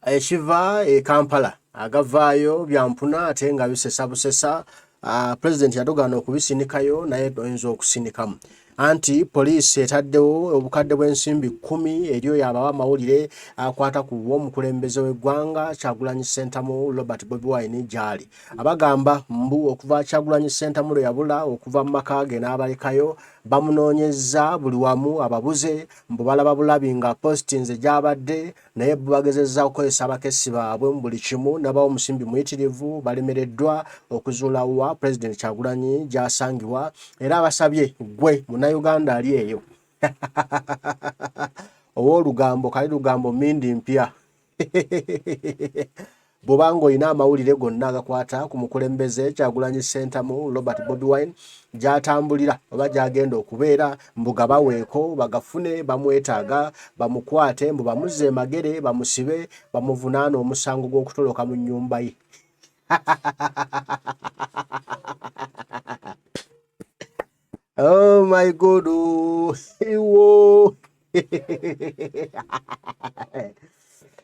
ekiva e kampala agavaayo byampuna ate nga bisesa busesa Ah, president yatogaana okubisinikayo naye oyinza okusinikamu anti poliisi etaddewo obukadde bw'ensimbi kumi eri oyo abawa amawulire akwata ku bw'omukulembeze w'eggwanga kyagulanyi sentamu robert bobi wine gyali abagamba mbu okuva kyagulanyi sentamu lwe yabula okuva mu maka ge n'abalekayo bamunoonyezza buli wamu ababuze mbu balaba bulabi nga postinze gyabadde naye bo bagezezza okukozesa abakessi baabwe mu buli kimu nabawo omusimbi muyitirivu balemereddwa okuzuula wa pulezidenti kyagulanyi gyasangibwa era abasabye gwe munauganda ali eyo ow'olugambo kali lugambo mindi mpya bwoba ng'olina amawulire gonna agakwata ku mukulembeze kyagulanyi sentamu robert bobi wine gyatambulira oba gyagenda okubeera mbu gabaweeko bagafune bamwetaaga bamukwate mbu bamuzze emagere bamusibe bamuvunaana omusango gw'okutoloka mu nnyumba ye Oh my God. Oh, whoa.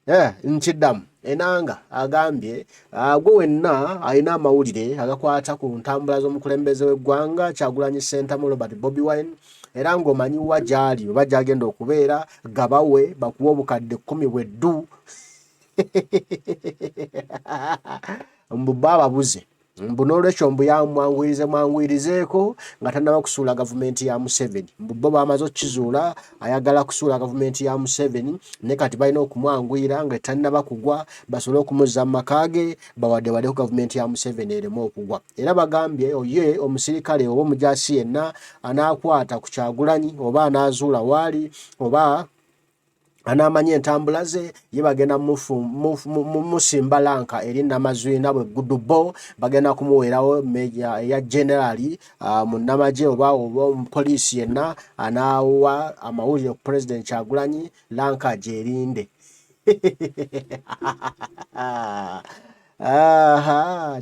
Eh, nkiddamu enanga agambye ah, gwe wenna alina amawulire agakwata ku ntambula z'omukulembeze w'eggwanga kyagulanyi sentamu robert bobi wine era ng'omanyi wa gyali oba gyagenda okubeera gabawe bakuwa obukadde kkumi bweddu mbu baababuze mbu n'olwekyo mbu yamwanguyirize mwanguyirizeeko nga tannaba kusuula gavumenti ya museveni mbu bo bamaze okukizuula ayagala kusuula gavumenti ya museveni ne kati balina okumwanguyira nga tannaba kugwa basobole okumuzza mu maka ge bawadewadeku gavumenti ya museveni ereme okugwa era bagambye oye omusirikale oba omujasi yenna anaakwata ku kyagulanyi oba anaazuula waali oba anaamanya entambula ze ye bagenda musimba lanka eri namazwina bwe gudubo bagenda kumuweerawo meja eya generali ah, mu namagye oba oba omupoliisi yenna anaawa amawulire ku pulezidenti kyagulanyi lanka gyerinde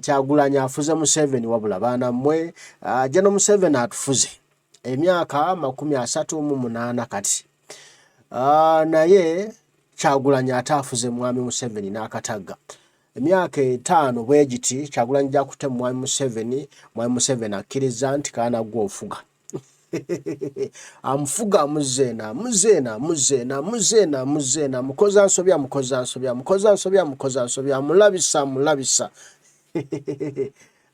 kyagulanyi afuze museveni wabula baana mmwe ajja ah, no museveni atufuze emyaka makumi asatu mu munaana kati uh, naye kyagulanyi ate afuze mwami museveni n'akatagga emyaka etaano bwegiti kyagulanyi gyakutte mu mwami museveni mwami museveni akkiriza nti kaana gwe ofuga amufuga amuzeena amuzeena amuzeena amuzeena amuzeena amukoza nsobi amukoza nsobi amukoza nsobi amukoza nsobi amulabisa amulabisa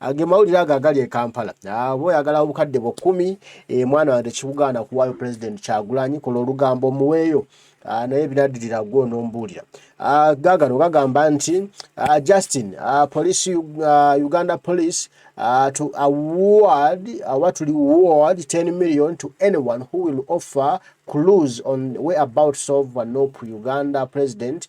Age mawulire ago agali e Kampala. Abo oyagala obukadde bwo kumi e mwana wange kikugaana kuwaayo president Kyagulanyi kola olugambo omuweeyo. Ah, naye binadirira gwo nombuulira ah, gagano gagamba nti ah, Justin police Uganda police to award oba tuli award 10 million to anyone who will offer clues on where about solve Nup Uganda president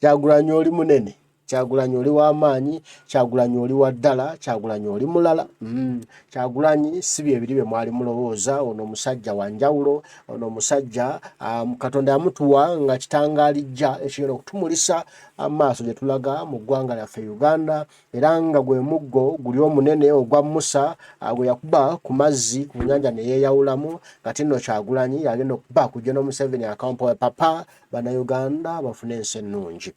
Kyagulanyi oli munene, Kyagulanyi oli w'amaanyi, Kyagulanyi oli wa ddala, Kyagulanyi oli mulala. Mm. Kyagulanyi si bye biri bye mwali mulowooza, ono omusajja wa njawulo, ono omusajja um, Katonda yamutuwa nga kitangalijja ekigenda okutumulisa amaaso gye tulaga mu ggwanga lyaffe Uganda, era nga gwe muggo guli omunene ogwa Musa uh, gwe yakuba ku mazzi ku nnyanja ne yeeyawulamu, kati nno Kyagulanyi yagenda okuba kujja n'Omuseveni akampowe papa Bannayuganda bafune ensi ennungi.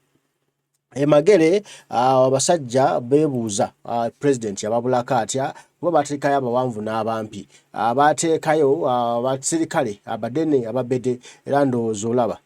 Emagere ah, abasajja beebuuza ah, pulezidenti yababulako atya kuba baateekayo abawanvu n'abampi ah, baateekayo abasirikale abadene ababede era ndowooza olaba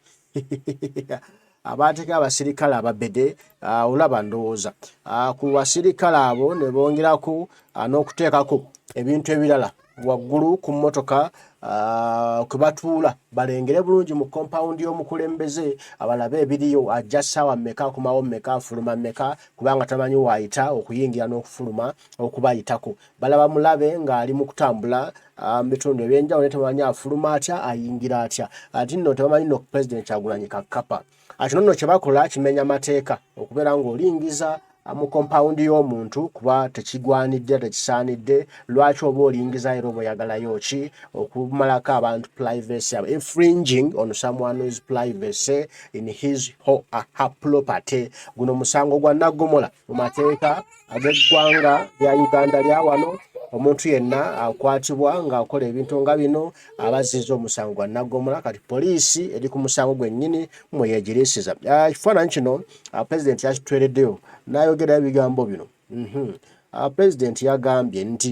abaateka abasirikale ababede ah, olaba ndowooza ah, ku basirikale abo ne bongerako ah, n'okuteekako ebintu ebirala waggulu ku mmotoka ah, kwe batuula balengere bulungi mu kompawundi y'omukulembeze abalabe ebiriyo ajja ssaawa mmeka akomawo mmeka afuluma mmeka kubanga tamanyi waayita okuyingira n'okufuluma okubayitako balaba mulabe ng'ali mu kutambula ah, mu bitundu ebyenjawulo ne tamanyi afuluma atya ayingira atya ati nno tebamanyi no pulezidenti kyagulanyi kakkapa Ah, kino nno kyebakola kimenya mateeka okubeera ng'olingiza ah, mu kompawundi y'omuntu kuba tekigwanidde tekisaanidde lwaki oba olingiza era oba oyagalayo ki okumalako abantu privacy abo infringing on someone's privacy in his ho, her property guno musango gwa naggomola mu mateeka ab'eggwanga lya Uganda lya wano omuntu yenna akwatibwa ng'akola ebintu nga bino aba azizza omusango gwa naggomola kati poliisi eri ku musango gwennyini mwe yeegiriisiza ah, ekifaananyi kino ah, pulezidenti yakitwereddeyo n'ayogerayo ebigambo bino mhm. ah, pulezidenti yagambye nti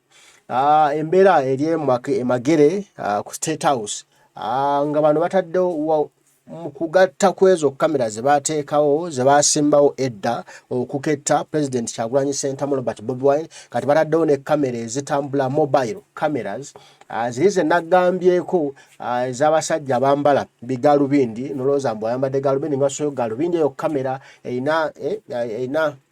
Ah, embeera eri emagere ah, ku state house ah, nga bano bataddewo mukugatta kwezo kamera zebateekawo zebasimbawo edda okuketta president kyagulanyi sentamu robert bobi wine kati bataddewo ne kamera ezitambula mobile cameras ziri zenagambyeko ezabasajja bambala bigalubindi nolowooza mbu ayambadde galubindi ngasoyo galubindi eyo kamera erina eh,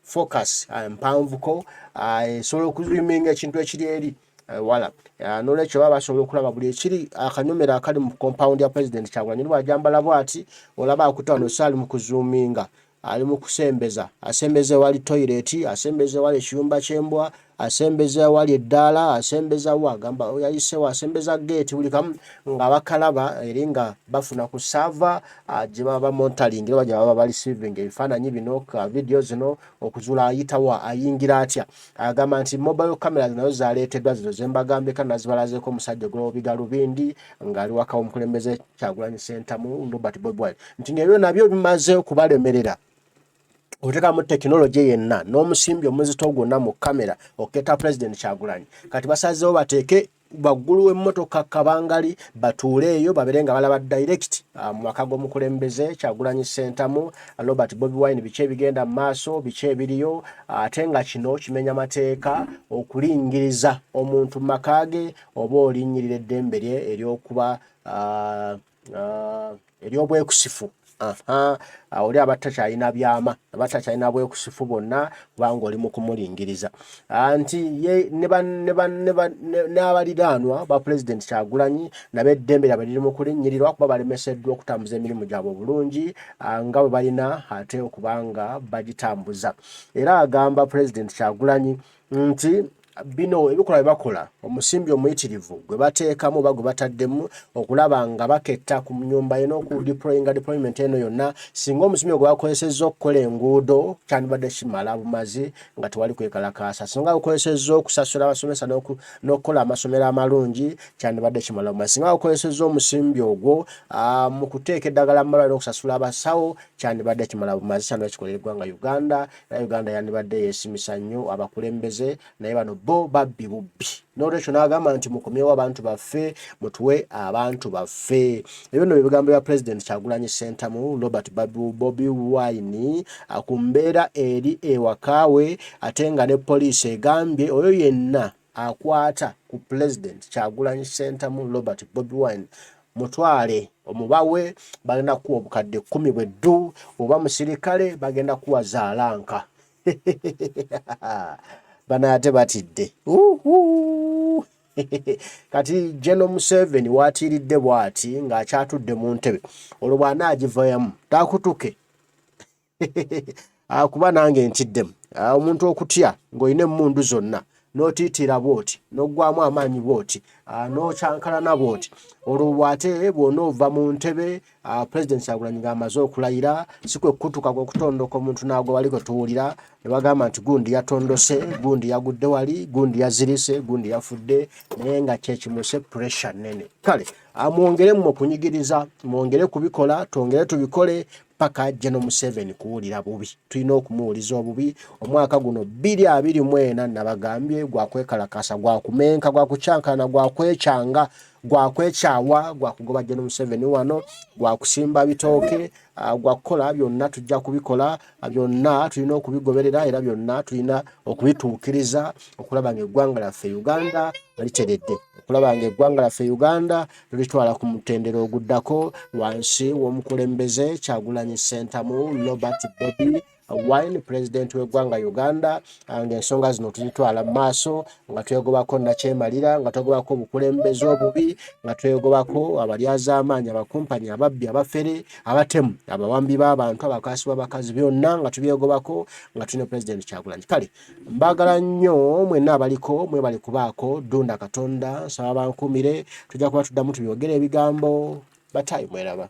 focus ah, mpanvuko ah, esobola okuzwiminga ekintu ekiri eri eh, wala ah, nolwekyo baba basobola okulaba buli ekiri akanyomero akali mu compound ya president kyagulanyi lwajambala bwati olaba akutawa nosaali mu kuzuminga ali mu kusembeza asembeza ewali toilet asembeza ewali ekiyumba kyembwa asembeza awali eddaala asembeza wa gamba yayisewo asembeza geeti buli kamu nga bakalaba eri nga bafuna ku saava ah, gye baba bamontalingi oba gye baba balisivinga ebifaananyi bino ka vidiyo zino okuzuula ayitawa ayingira atya agamba nti mobile camera zinazo zaleeteddwa zino zembagambika nazibalazeko omusajja ogwobiga lubindi ng'ali waka omukulembeze kyagulanyi sentamu robert bobwine nti nebyo nabyo bimaze okubalemerera otekamu tekinologi yenna n'omusimbi omuzito gwonna mu kamera okuketa pulezidenti kyagulanyi kati basazeewo bateeke waggulu w'emmotoka kabangali batuule eyo babeere nga balaba direct ah, mu maka g'omukulembeze kyagulanyi sentamu robert bobi wine biki ebigenda mu maaso biki ebiriyo ah, ate nga kino kimenya mateeka okulingiriza omuntu mu maka ge oba olinnyirira eddembe lye ery'okuba ah, ah, ery'obwekusifu oli abatakyalina byama abatakyalina bwekusifu bonna kubanga oli mukumulingiriza ah, nti n'abaliraanwa ba pulezidenti kyagulanyi nabo eddembe lyabwe liri mukulinyirirwa kuba balemeseddwa okutambuza emirimu gyabwe obulungi ah, nga bwe balina ate okubanga bagitambuza era agamba pulezidenti kyagulanyi nti bino ebikolwa bye bakola omusimbi omuyitirivu gwe bateekamu oba gwe bataddemu okulaba nga baketta ku nyumba ye n'okudeployinga deployment eno yonna singa omusimbi gwe bakozesezza okukola enguudo kyandibadde kimala bumazi nga tewali kwekalakaasa singa bakozesezza okusasula abasomesa n'okukola amasomero amalungi kyandibadde kimala bumazi singa bakozesezza omusimbi ogwo mu kuteeka eddagala mu malwaliro okusasula abasawo kyandibadde kimala bumazi kyandibadde kikolera eggwanga uganda naye uganda yandibadde yesimisa nnyo abakulembeze naye bano bo babbi bubbi nolwekyo nagamba nti mukomyewo abantu baffe mutuwe abantu baffe ebyo no byebigambo bya president kyagulanyi sentamu robert babu bobi wine ku mbeera eri ewakaawe ate nga ne poliisi egambye oyo yenna akwata ku pulezidenti kyagulanyi sentamu robert bobi wine mutwale omubawe bagenda kuwa obukadde kumi bwe ddu oba musirikale bagenda kuwa zaalanka bana ate batidde kati geno museveni watiiridde bwati ng'akyatudde mu ntebe olwo bw'anaagivayamu takutuke Ah, kuba nange ntiddemu ah, omuntu okutya ng'olina emmundu zonna n'otiitiira bw'oti n'oggwamu amaanyi bw'oti ah, n'okyankalana bw'oti olwo bwate bwona ova mu ntebe pulezidenti kyagulanyi ng'amaze okulayira si kwe kukutuka kw'okutondoka omuntu n'agwa wali kwe tuwulira ne bagamba nti gundi yatondose gundi yagudde wali gundi yazirise gundi yafudde naye nga kyekimuse puresha nnene kale amwongeremu okunyigiriza mwongere kubikola twongere tubikole paka jeno museveni kuwulira bubi tulina okumuwuliza obubi omwaka guno biri abiri mwena nabagambye gwakwekalakasa gwakumenka gwakukyankana gwakwekyanga gwakwekyawa gwakugoba jeno museveni wano gwakusimba bitooke ah, gwakukola byonna tujja kubikola ah, byonna tulina okubigoberera era byonna tulina okubituukiriza okulaba nga eggwanga lyaffe uganda literedde okulaba nga eggwanga lyaffe uganda lulitwala ku mutendera oguddako wansi w'omukulembeze Kyagulanyi Ssentamu Robert Bobi Wine pulezidenti w'eggwanga Uganda ah, ng'ensonga zino tuzitwala mu maaso nga twegobako nakyemalira nga twegobako obukulembeze obubi nga twegobako abalyazaamaanyi abakumpanya ababbi abafere abatemu abawambi b'abantu abakaasi b'abakazi byonna nga tubyegobako nga tulina pulezidenti Kyagulanyi kale Mbagala nnyo mwenna abaliko mwebale kubaako dunda katonda nsaba bankumire tujja kuba tuddamu tubyogere ebigambo batayi mweraba.